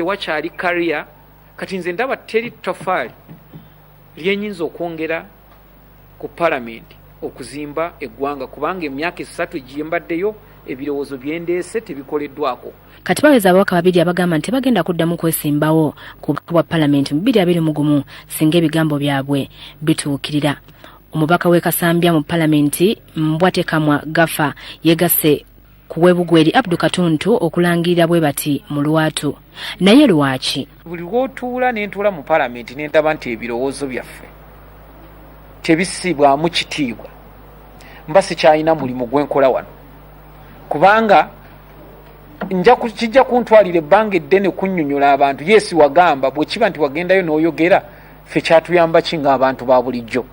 tewakyali kariya kati nze ndaba teri tofaali lyenyinza okwongera ku palamenti okuzimba eggwanga kubanga emyaka esatu egyembaddeyo ebirowoozo byendeese tebikoleddwako kati baweza ababaka babiri abagamba nti tebagenda kuddamu kwesimbawo ku bubaka bwa palamenti mu biri abiri mu gumu singa ebigambo byabwe bituukirira omubaka w'e kasambya mu palamenti mbwatekamwa gafa yegasse ku webugwa eri abdu katuntu okulangirira bwe bati mu lwatu naye lwaki buli wotuula nentuula mu palamenti nendaba nti ebirowoozo byaffe tebisibwamu kitiibwa mba sikyalina mulimu gwenkola wano kubanga kijja kuntwalira ebbanga eddene kunyonyola abantu yesi wagamba bwekiba nti wagendayo noyogera fe kyatuyambaki nga abantu ba bulijjo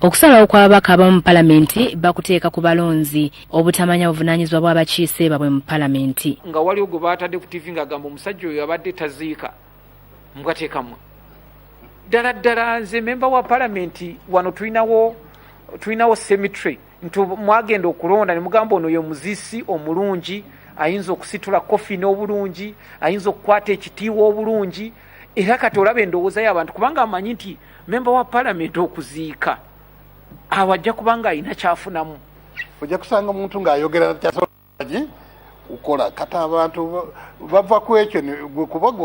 Okusalawo kw'ababaka abamu mu palamenti bakuteeka ku balonzi obutamanya buvunaanyizibwa bw'abakiise babwe mu palamenti. Nga waliwo gwe baatadde ku ttivi ng'agamba omusajja oyo abadde taziika mbwateekamu. Ddala ddala nze memba wa palamenti wano tulinawo tulinawo cemetery nti mwagenda okulonda ne mugamba ono ye muzisi omulungi ayinza okusitula kofi n'obulungi ayinza okukwata ekitiiwa obulungi era kati olaba endowooza y'abantu kubanga amanyi nti memba wa palamenti okuziika awo ajja kubanga alina kyafunamu ojja kusanga omuntu ng'ayogera kyasolagi ukola kata abantu bava ku ekyo kubaga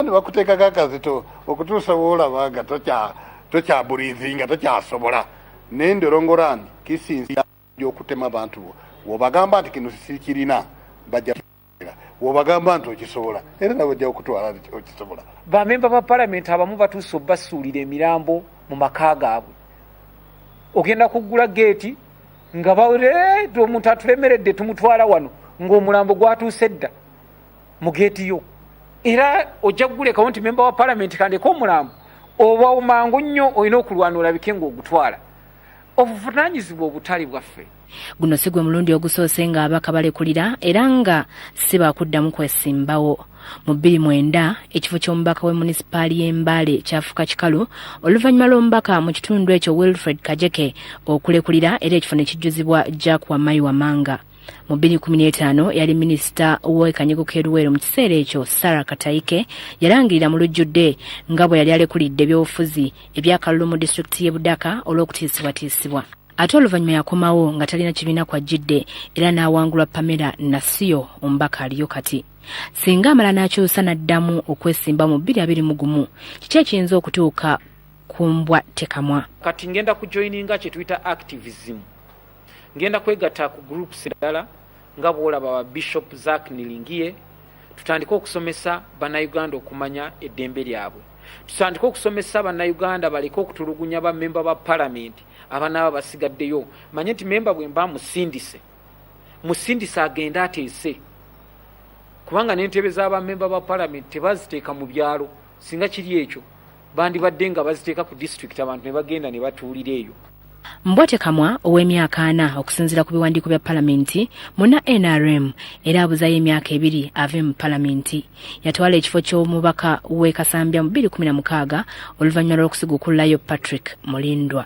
nebakuteekako akazito okutuusa woolaba nga tokyaburizi nga tokyasobola naye ndolongora nti kisinzira okutema abantu bo wobagamba nti kino sikirina bajja wobagamba nti okisobola era nawe ojja okutwala nti okisobola bamemba ba palamenti abamu batuuse obasuulira emirambo mu maka gaabwe ogenda kuggula geeti nga bareeta eh, omuntu atulemeredde tumutwala wano ng'omulambo gwatuuse dda mu geeti yo era ojja kugulekawo nti memba wa palamenti kandeka omulambo oba mangu nnyo olina okulwana olabike ng'ogutwala obuvunanyizibwa obutale bwaffe guno si gwe mulundi ogusoose nga abaka balekulira era nga si bakuddamu kwesimbawo mu bbiri mwenda ekifo ky'omubaka w'e munisipaali y'embaale kyafuuka kikalu oluvannyuma lw'omubaka mu kitundu ekyo wilfred kajeke okulekulira era ekifo ne kijjuzibwa jack wamayi wamanga mu 2015 yali minisita w'ekanyego k'eruweero mu kiseera ekyo sara katayike yalangirira mu lujjudde nga bwe yali alekulidde ebyobufuzi ebyakalulu mu disitulikiti y'e budaka olw'okutiisibwatiisibwa ate oluvannyuma yakomawo nga talina kibiina kw'ajjidde era n'awangulwa pamela nasiyo omubaka aliyo kati singa amala n'akyusa n'addamu okwesimba mu bbiri abiri mu gumu kiki ekiyinza okutuuka ku mbwa tekamwa kati ngenda kujoyininga kye tuyita activism ngenda kwegatta ku groups endala nga bw'olaba ba bishop zak nilingiye tutandike okusomesa bannayuganda okumanya eddembe lyabwe tutandike okusomesa bannayuganda baleke okutulugunya bamemba ba palamenti abanaaba basigaddeyo manye nti memba bwemba musindise musindise agende ateese kubanga nentebe zabamemba ba palamenti tebaziteeka mu byalo singa kiri ekyo bandibadde nga baziteeka ku disitulikiti abantu ne bagenda ne batuulira eyo mbwate kamwa ow'emyaka ana okusinziira ku biwandiiko bya palamenti muna nrm era abuzayo emyaka ebiri ave mu palamenti yatwala ekifo ky'omubaka w'e Kasambya mu 2016 oluvannyuma lw'okusigukulayo Patrick Mulindwa.